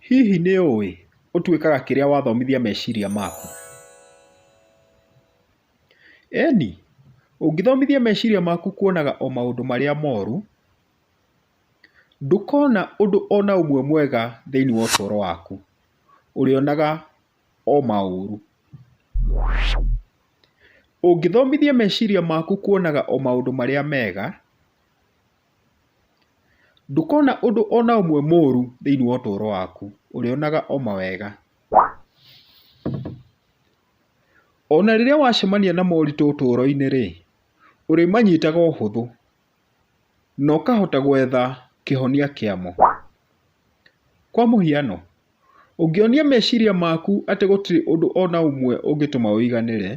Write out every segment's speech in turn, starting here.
Hihi nĩ ũĩ ũtuĩkaga kĩrĩa wathomithia meciria maku? Eni, ũngĩthomithia meciria maku kuonaga o maũndũ marĩa moru, ndũkona ũndũ ona ũmwe mwega thĩinĩ wa ũtũũro waku, ũrĩonaga o maũru. Ũngĩthomithia meciria maku kuonaga o maũndũ marĩa mega... Ndũkona ũndũ o na ũmwe mũũru thĩinĩ wa ũtũũro waku, ũrĩonaga o mawega. O na rĩrĩa wacemania na moritũ ũtũũro-inĩ-rĩ, ũrĩmanyitaga ũhũthũ na ũkahota gwetha kĩhonia kĩamo. Kwa mũhiano, ũngĩonia meciria maku atĩ gũtirĩ ũndũ o na ũmwe ũngĩtũma ũiganĩre,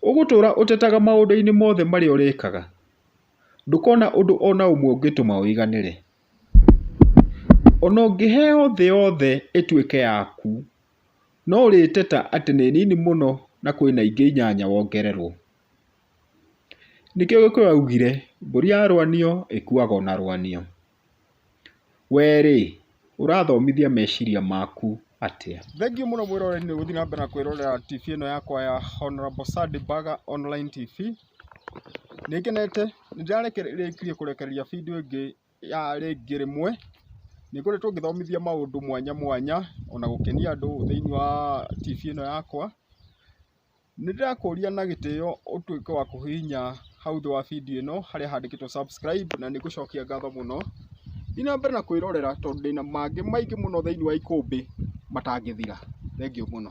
Ũgũtũũra ũtetaga maũndũ-inĩ mothe marĩa ũrekaga? Ndũkona ũndũ o na ũmwe ũngĩtũma ũiganĩre? O na ũngĩheo thĩ yothe ĩtuĩke yaku, no ũrĩteta atĩ nĩ nini mũno na kwĩ na ingĩ inyanya wongererũo? Nĩkĩo Gĩkũyũ augire, Mbũri yarũanio ĩkuaga o na rũanio. Wee rĩ, ũrathomithia meciria maku atĩa? Thengiũ mũno mwĩroreri nĩ gũthiĩ na mbere na kwĩrorera TV ĩno yakwa ya Honourable Sandy Baga Online TV. Nĩ ngenete, nĩ ndĩrarĩkirie kũrekereria bindiũ ĩngĩ ya rĩngĩ rĩmwe. Nĩ ngoretwo ngĩthomithia maũndũ mwanya mwanya ona gũkenia andũ thĩinĩ wa TV ĩno yakwa. Nĩ ndĩrakũria na gĩtĩo ũtuĩke wa kũhihinya hau thĩ wa video ĩno harĩa handĩkĩtwo subscribe na nĩ ngũcokia ngatho mũno. Thiĩ na mbere na kwĩrorera tondũ ndĩna mangĩ maingĩ mũno thĩinĩ wa ikũmbĩ matangĩthira. Thengiũ mũno.